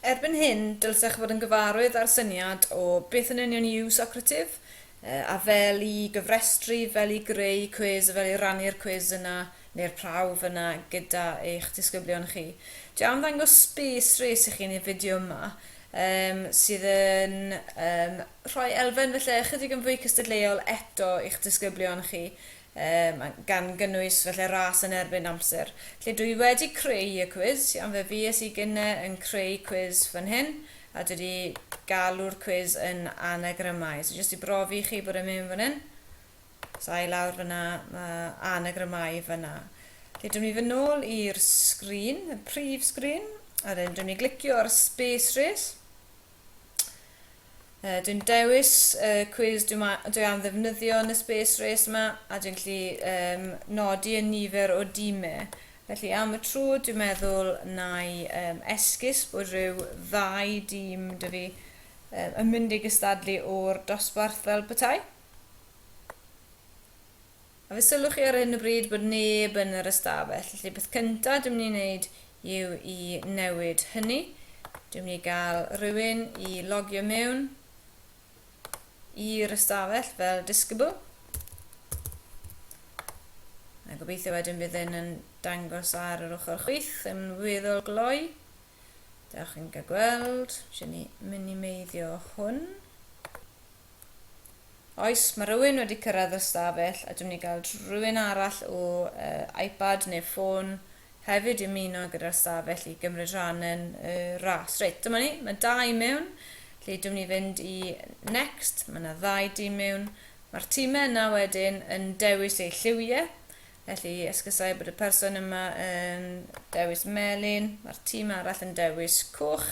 Erbyn hyn, dylsech fod yn gyfarwydd â'r syniad o beth yn union yw Socrative, a fel i gyfrestru, fel i greu cwis a fel i rannu'r cwis yna, neu'r prawf yna, gyda eich disgyblion chi. Dwi am ddangos space race i chi yn y fideo yma, um, sydd yn um, rhoi elfen falle ychydig yn fwy cystadleuol eto i'ch disgyblion chi, gan gynnwys felly ras yn erbyn amser. Felly dwi wedi creu y cwis, iawn, fe fues i gynne yn creu cwis fan hyn, a dwi wedi galw'r cwis yn anagrymau. So jyst i brofi i chi bod e'n mynd fan hyn. Os a i lawr fyna, mae anagrymau fyna. Felly dwi'n mynd i fy nôl i'r sgrin, y prif sgrin, a wedyn dwi'n mynd i glicio ar Space Race. Uh, dwi'n dewis y uh, cwis dwi, dwi am ddefnyddio yn y space race yma a dwi'n lli um, nodi y nifer o dîmau. Felly am y trw dwi'n meddwl na i um, esgus bod rhyw ddau dîm dy fi um, yn mynd i gystadlu o'r dosbarth fel petai. A fe sylwch chi ar hyn o bryd bod neb yn yr ystafell, felly peth cyntaf dwi'n mynd i wneud yw i newid hynny. Dwi'n mynd i gael rhywun i logio mewn i'r ystafell fel disgybl. A gobeithio wedyn bydd hyn yn dangos ar yr ochr chwith yn weddol gloi. Da chi'n cael gweld, eisiau ni minimeiddio hwn. Oes, mae rhywun wedi cyrraedd y stafell a dwi'n mynd i gael rhywun arall o uh, iPad neu ffôn hefyd i ymuno gyda'r stafell i gymryd rhan yn y uh, ras. Reit, dyma ni, mae dau i mewn. Lle dwi'n mynd i fynd i next, mae yna ddau dîm mewn. Mae'r tîmau yna wedyn yn dewis eu lliwiau. Felly, esgysau bod y person yma yn dewis melyn, mae'r tîm arall yn dewis coch,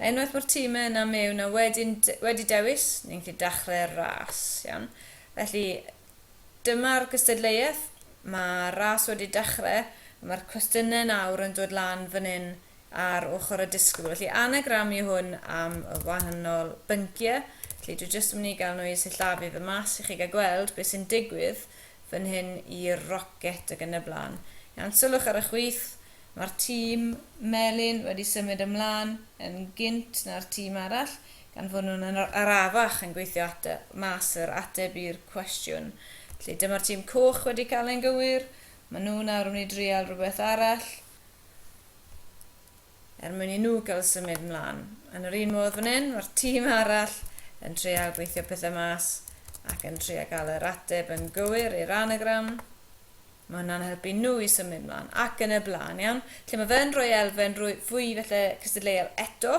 Unwaith bo'r time yna mewn a wedyn wedi dewis, ni'n gallu dachre'r ras. Iawn. Felly, dyma'r gystadleuaeth. Mae ras wedi dachre, a mae'r cwestiyne nawr yn dod lan fan hyn ar ochr y disgybl. Felly, anagram yw hwn am y wahanol bynciau. Felly, dwi jyst yn mynd i gael nhw i sillafu fy mas i chi gael gweld beth sy'n digwydd fan hyn i'r rocet ag yn y blaen. Iawn, sylwch ar y chwith, Mae'r tîm melyn wedi symud ymlaen yn gynt na'r tîm arall, gan fod nhw'n arafach yn gweithio mas yr ateb i'r cwestiwn. Felly, dyma'r tîm coch wedi cael e'n gywir. Maen nhw nawr yn mynd i drial rhywbeth arall er mwyn i nhw gael symud ymlaen. Yn yr un modd fan hyn, mae'r tîm arall yn trial gweithio pethau mas ac yn trial cael yr ateb yn gywir i'r anagram. Mae hwnna'n helpu nhw i symud 'mlaen ac yn y blaen, iawn? Felly mae fe yn rhoi elfen rwy- fwy falle cystadleuol eto,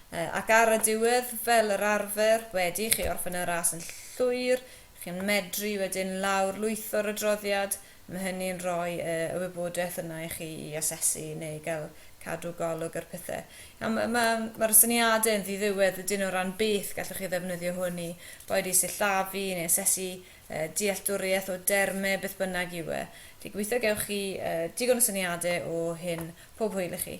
yy, ac ar y diwedd, fel yr arfer, wedi i chi orffen y ras yn llwyr, chi'n medru wedyn lawr-lwytho'r adroddiad, a mae hynny'n rhoi y, y wybodaeth yna i chi i asesu neu gael cadw golwg ar pethe. Iawn, ma', ma', ma'r syniadau'n ddiddiwedd, ydyn nhw, o ran beth gallwch chi ddefnyddio hwn i, boed i sillafu neu asesu dealltwriaeth o derme beth bynnag yw e. Dwi gobeithio gewch chi digon o syniade o hyn pob hwyl i chi.